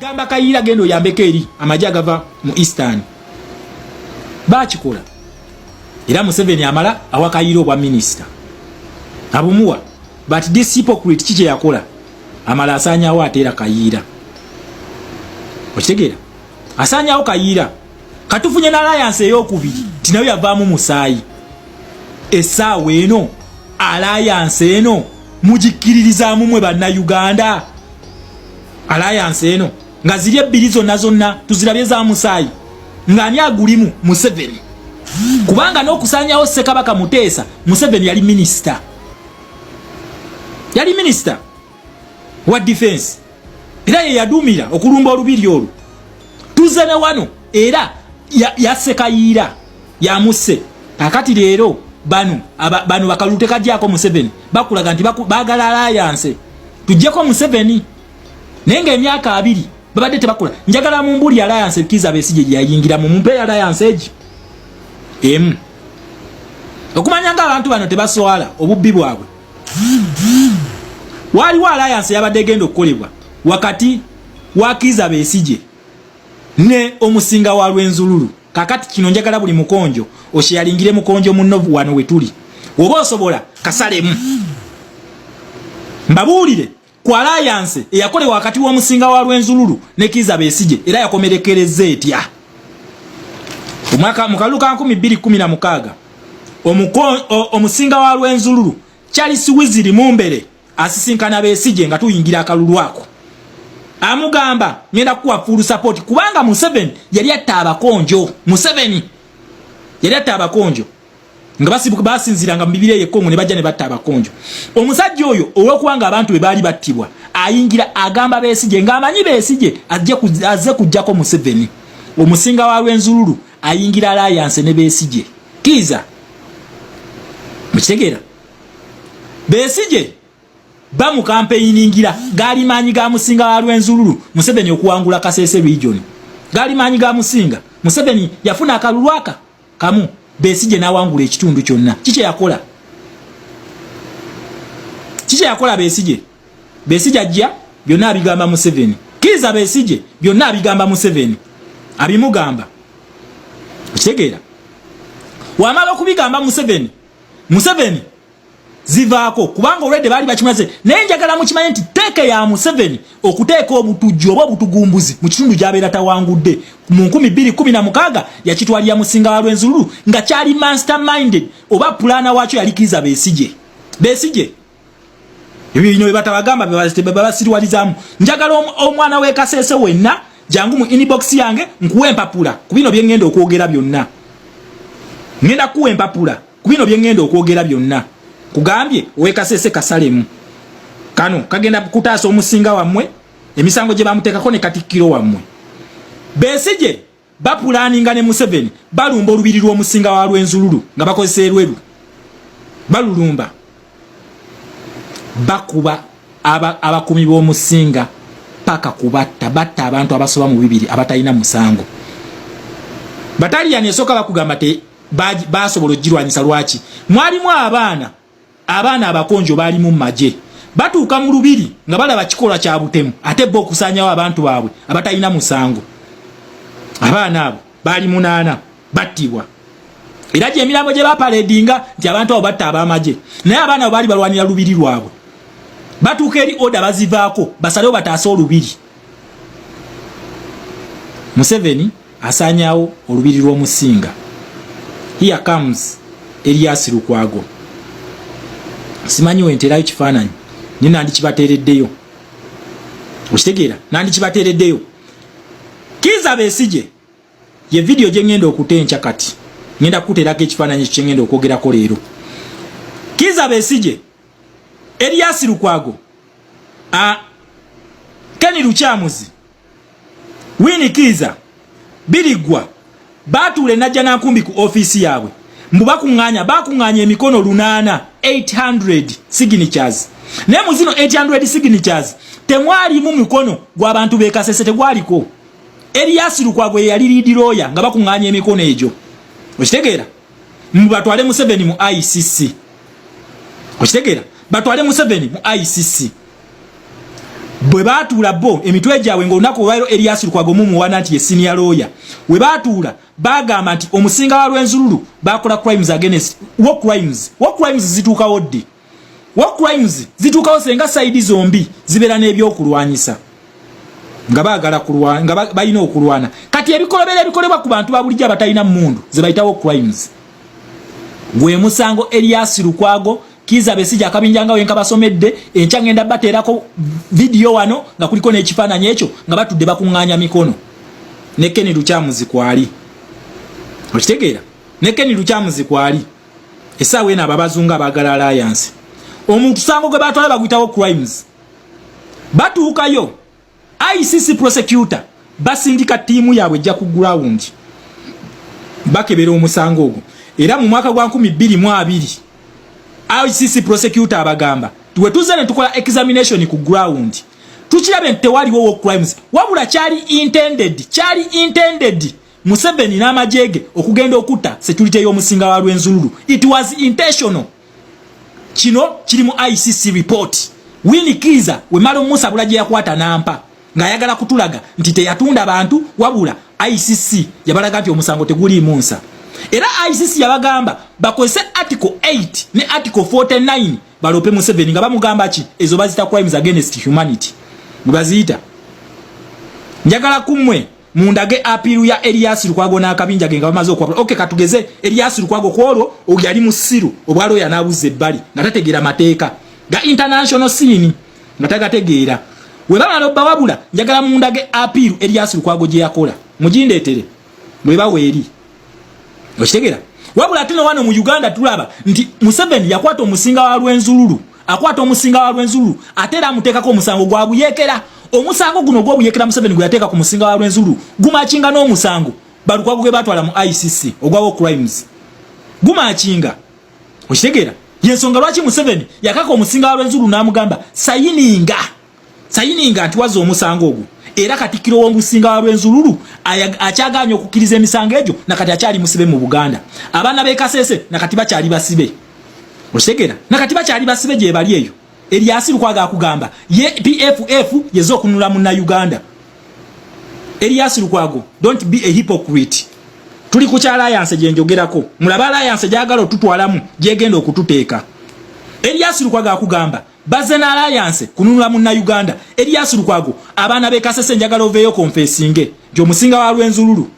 gamba kayiira genda oyambeko eri amagye agava mu eastern bakikola era museveni amala awa kayiira obwa minisita abumuwa but this hypocrite ki kyeyakola amala asanyawo ateera kayiira okitegeera asanyawo kayiira katufunye na alliance eyokubiri tinayo yavamu musayi esaawa eno alliance eno mugikiririzamu mwe banna uganda alliance eno nga ziri ebbiri zonna zonna tuzirabye za musaayi ng'ani agulimu museveni kubanga n'okusanyawo ssekabaka muteesa museveni yali minisita yali minisita wa defense era ye yadumira okulumba olubiri olwo tuze ne wano era yasekayiira ya yamusse akati leero bano bano bakalulu tekajyako museveni bakulaga nti bagala alayanse tujjeko museveni naye nga emyaka abiri babadde tebakula njagala mumbuli alayanse kiza besije gyeyayingira mu mumpe alayanse egi emu okumanya nga abantu bano tebaswala obubbi bwabwe waaliwo alliance yabadde egenda okukolebwa wakati wa Kiiza Besigye ne omusinga wa Lwenzululu kakati kino njagala buli mukonjo osheyalingire mukonjo munno wano wetuli oba osobola kasalemu mbabuulire ku alayanse eyakolewa wakati w'omusinga wa Rwenzululu ne Kiiza Besigye era yakomerekereza etya omwaka mu kalulu ka 2016 omusinga wa Rwenzululu Charles Wiziri Mumbere asisinkana Besigye nga tuyingira akalulu ako amugamba ngenda kuwa full support kubanga Museveni yali atta abakonjo Museveni yali atta abakonjo nga basibuka basinziranga mu bibira eyo Congo ne bajja ne batta abakonjo omusajja oyo ow'okuwanga abantu be baali battibwa ayingira agamba Besigye ng'amanyi Besigye azze kujjako Museveni omusinga wa Rwenzururu ayingira alliance ne Besigye kiza mukitegeera Besigye bamukampeyiningira gaali maanyi ga musinga wa Rwenzururu Museveni okuwangula Kasese region gaali maanyi ga musinga Museveni yafuna akalulwaka kamu besije nawangula ekitundu kyonna kikye yakola kikye yakola besije besije ajja byonna abigamba museveni kiza besije byonna abigamba museveni abimugamba okitegeera wamala okubigamba museveni museveni zivaako kubanga olwedde baali bakimaze naye njagala mukimanye nti teeka ya museveni okuteeka obutujju oba obutugumbuzi mu kitundu gyabeera tawangudde mu 216 yakitwalira musinga wa lwenzululu nga kyali master minded oba pulaana waakyo yalikiriza besije besije ebyo bino bebatabagamba bebabasiriwalizamu njagala omwana wekasese wenna jangu mu inbox yange nkuwa empapula ku bino byengenda okwogera byonna ngenda kuwa empapula ku bino bye ŋŋenda okwogera byonna kugambye owekasese kasalemu kano kagenda kutaasa omusinga wammwe emisango gye bamuteekako ne katikkiro wammwe besigye bapulaninga ne museveni balumba olubiri lw'omusinga wa lwenzululu nga bakozesa erweru balulumba bakuba abakuumi b'omusinga paka kubatta batta abantu abasoba mu bibiri abatalina musango bataliyani esooka bakugamba te basobola okugirwanyisa lwaki mwalimu abaana abaana abakonjo baali mu maje batuuka mu lubiri nga balaba kikolwa kya butemu ate bo okusanyawo abantu baabwe abatalina musango abaana abo baali munaana battibwa era gyemirambo gye bapaledinga nti abantu abo batta abamaje naye abaana abo baali balwanira lubiri lwabwe batuuka eri oda bazivaako basalewo bataase olubiri museveni asaanyawo olubiri lw'omusinga here comes elias lukwago simanyi wenterayo kifaananyi naye nandikibateereddeyo okitegeera nandikibateereddeyo kiza besije ye vidiyo gye ŋŋenda okuta enkya kati ŋŋenda kukuteerako ekifaananyi ekyo kye ŋŋenda okwogerako leero kiza besije elias lukwago a keni lukyamuzi Winnie Kiiza Birigwa baatuula enajja na nkumbi ku ofiisi yaabwe mbu bakuŋŋaanya baakuŋŋaanya emikono lunaana 800 signatures naye mu zino 800 signatures temwalimu mikono gw'abantu beekasese tegwaliko Erias Lukwago ye yali liidi looya nga bakuŋŋaanya emikono egyo okitegeera mbu batwale museveni mu icc okitegera batwale museveni mu icc bwe batuula bo emitwe gyabwe ngaolunaku olwairo elias lukwago mumuwana nti ye senior lawyer we batuula bagamba nti omusinga wa lwenzululu bakola crimes against war crimes war crimes zituukawo ddi war crimes zituukawo senga saidi zombi zibeera n'ebyokulwanyisa nga bagala kulwana nga balina okulwana kati ebikolobera ebikolebwa ku bantu babulijjo abatalina mundu zebayita war crimes gwe musango elias lukwago kiza besija akabinja nga wenka basomedde enkya ngenda bateerako vidiyo wano nga kuliko n'ekifaananyi ekyo nga batudde bakuŋŋaanya mikono ne keni lukyamuzi kwali okitegeera ne keni lukyamuzi kwali esaawa eno ababazunga abagala alliance omuntu sango gwe batwala baguyitawo crimes batuukayo icc prosecutor basindika tiimu yaabwe ejja ku ground bakebera omusango ogwo era mu mwaka gwa 222 icc prosecutor abagamba tuwetuze ne tukola examination ku ground tukirabe nti tewaliwo wo crimes wabula kyali intended kyali intended Museveni n'amagye ge okugenda okutta security y'omusinga wa Rwenzururu. It was intentional. Kino kiri mu ICC report. Winnie Kiiza wemala omusabula gye yakwata nampa ng'ayagala kutulaga nti teyatunda bantu wabula ICC yabalaga nti omusango teguliimu nsa. Era ICC yabagamba bakozese article 8 ne article 49 balope Museveni nga bamugamba ki ezo bazita crimes against humanity. Mubaziyita. Njagala kumwe mundage apiru ya Elias Lukwago na akabinja genga bamaze okwabula okay katugeze Elias Lukwago kwolwo obyali musiru obwalo yanabuze bali natategera mateka ga international scene nataga tegera we baba no bawabula njagala mundage apiru Elias Lukwago je yakola mujinde etere mwe bawe eri okitegera wabula tuno wano mu Uganda tulaba nti Museveni yakwata omusinga wa lwenzululu akwata omusinga wa Rwenzururu ate era amuteekako omusango gwa buyeekera omusango guno ogw'obuyeekera Museveni gwe yateeka ku musinga wa Rwenzururu gumakinga n'omusango Balukwago gwe baatwala mu ICC ogwa war crimes gumakinga okitegeera y'ensonga lwaki Museveni yakaka omusinga wa Rwenzururu n'amugamba sayininga sayininga nti wazza omusango ogwo era katikkiro w'omusinga wa lwenzululu akyagaanye okukkiriza emisango egyo nakati akyali musibe mu buganda abaana b'ekasese nakati bakyali basibe okitegera nakati bakyali basibe gyebali eyo eryasi lukwaga akugamba ye pff yeza okunula muna uganda eryasi lukwago dont be a hypocrite tuli ku kyalayanse gyenjogerako mulaba alayanse gyagala otutwalamu gyegenda okututeeka eryasi lukwaga akugamba Baze na alliance kununula munna Uganda. Elias Lukwago abaana be kasese njagala oveyo confessinge. Jo musinga wa Rwenzululu.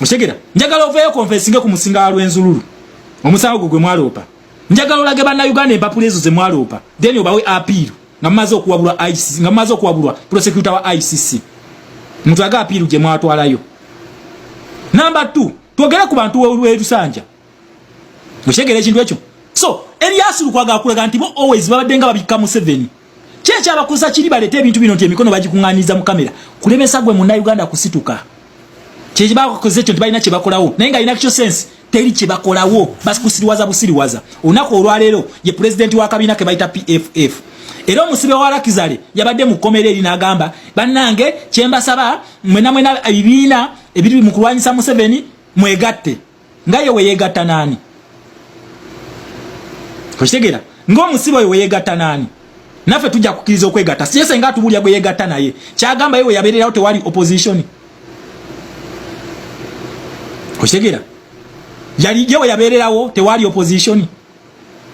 Mushegera. Njagala oveyo confessinge ku musinga wa Rwenzululu. Omusango gwe gwe mwalopa. Njagala olage banna Uganda empapula ezo ze mwalopa. Then obawe appeal. Nga mazo kuwabulwa ICC, nga mazo kuwabulwa prosecutor wa ICC. Mtu aga appeal je mwatwalayo. Number 2. Twogere ku bantu w'e Lusanja. Mukitegera ekintu ekyo. So, Elias Lukwago akulaga nti bo always babadde nga babikka Museveni. Kye kyabakosa kiri baleta ebintu bino nti emikono bagikunganiza mu kamera. Kulemesa gwe munna Uganda kusituka. Kye kibakoze ekyo nti balina kye bakolawo. Naye nga ina kyo sense teri kye bakolawo. Basi kusiriwaza busiriwaza. Olunaku olwaleero ye president wa kabina ke bayita PFF. era omusibe wa lakizale yabadde mu kkomera eri n'agamba bannange kyembasaba mwena mwena ebibiina ebiri mu kulwanyisa museveni mwegatte nga ye weyegatta naani okitegera ngaomusibe oyo weyegatta naani naffe tujja kukkiriza okwegatta siye senga atubulya gwe yegatta naye kyagamba ye weyabeererawo tewali opposition okitegera yali ye weyabeererawo tewali opposition